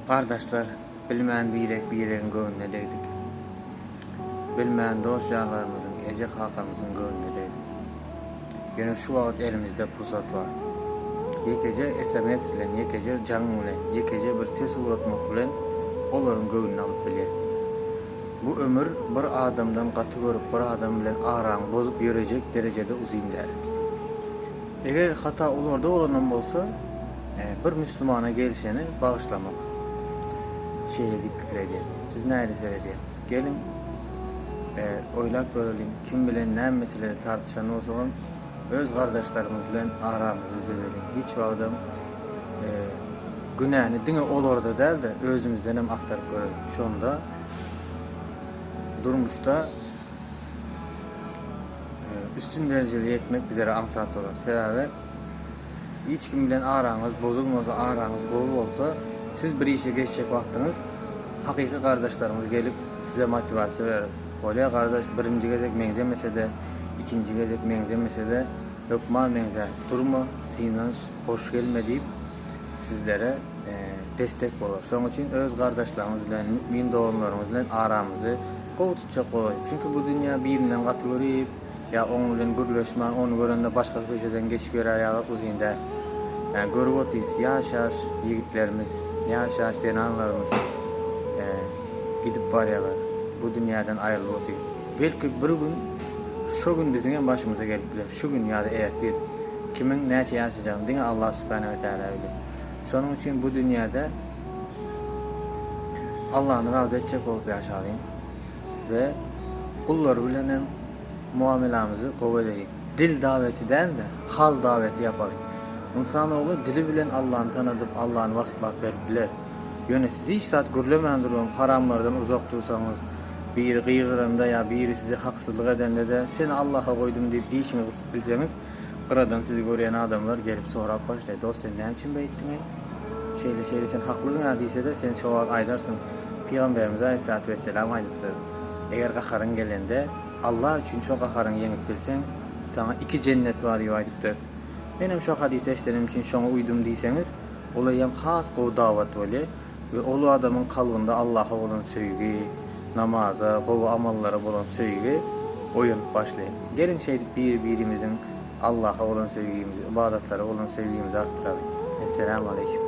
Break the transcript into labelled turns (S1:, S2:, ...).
S1: Gardaşlar, bilmän birek-biregiň göwnüne degdik. Bilmän dost-ýarlarymyzyň, eje-kakamyzyň göwnüne degdik. Ýöne şu wagt elimizde pursat bar. Ýekeje sms bilen, ýekeje jaň bilen, ýekeje bir ses ugratmak bilen olaryň göwnüni alyp bilýäs. Bu ömür bir adamdan gaty görüp, bir adam bilen araňy bozup ýörejek derejede uzyn däl. Eger hata olarda bolanam bolsa, Bir müslümana gelşeni bagyşlamak. Şeýle diýip pikir edýän. Siz nähili seredýäňiz? Geliň, oýlap göreliň, kim bilen näme meselede tartyşan bolsagam, öz gardaşlarymyz bilen aramyzy düzedeliň. Hiç wagtam günäni diňe olarda däl-de, özümizden hem agtaryp göreliň. Şonda durmuşda üstün derejeli ýetmek bizlere aňsat bolar. Sebäbi. Hiç kim bilen araňyz bozulmasa, araňyz gowy bolsa, siz bir işe geçjek wagtyňyz hakyky gardaşlaryňyz gelip, size motiwasiýa berer. Bolýa gardaş, birinji gezek meňzemese-de, ikinji gezek meňzemese-de, hökman meňzär. Durma, synanyş, hoş gelme diýip, sizlere destek bolar. Şonuň üçin öz gardaşlaryňyz bilen, mümin doganlaryňyz bilen aramyzy gowy tutjak bolaýyň. Çünki bu dünýä birinden gaty görip, Ýa oň bilen gürleşman ony görende başga köçeden geçip ýörär ýaly uzyn däl. Ýa görüp otyrys ýaş ýaş ýigitlerimiz, ýaş ýaş zenanlarymyz gidip barýarlar, bu dünýäden aýrylyp otyr. Belki bir gün şo gün biziň hem başymyza gelip biler, şu gün ýa-da ertir. Kimiň näçe ýaşajagyny diňe Allah Subhana we Taala biler. Şonuň üçin bu dünýäde Allany razy etjek bolup ýaşalyň. we gullar bilen hem muamelamyzy gowy edeliň. Dil daweti däl-de, hal daweti ýapalyň. Ynsan ogly dili bilen Allany tanadyp, Allany wasplap berip biler. Ýöne siz hiç zat gürlemän durgam haramlardan uzak dursaňyz, biri gygyranda ýa biri size haksyzlyk edende-de, Seni Allaha goýdum diýip dişiňi gysyp bilseňiz, Gyradan sizi görýän adamlar gelip sorap başlaýar, Dost, sen näme üçin beýtdiň-eý? Şeýle-şeýle sen haklydyň-a diýse-de, sen şo wagt aýdarsyň, Pygamberimiz aleýhissalatu wesselam aýdypdyr, Eger gaharyň gelende, Allah üçin şo gaharyňy ýeňip bilseň, saňa iki jennet bar diýip aýdypdyr. Menem şo hadysy eşidenim üçin şoňa uýdum diýseňiz, olaýam has gowy dawat bolýar. we ol adamyň kalbynda Allaha bolan söýgi, namaza, gowy amallara bolan söýgi oýanyp başlaýar. Geliň şeýdip biri-birimiziň Allaha bolan söýgimizi, ybadatlara bolan söýgimizi artdyralyň. Esselamu aleýkum.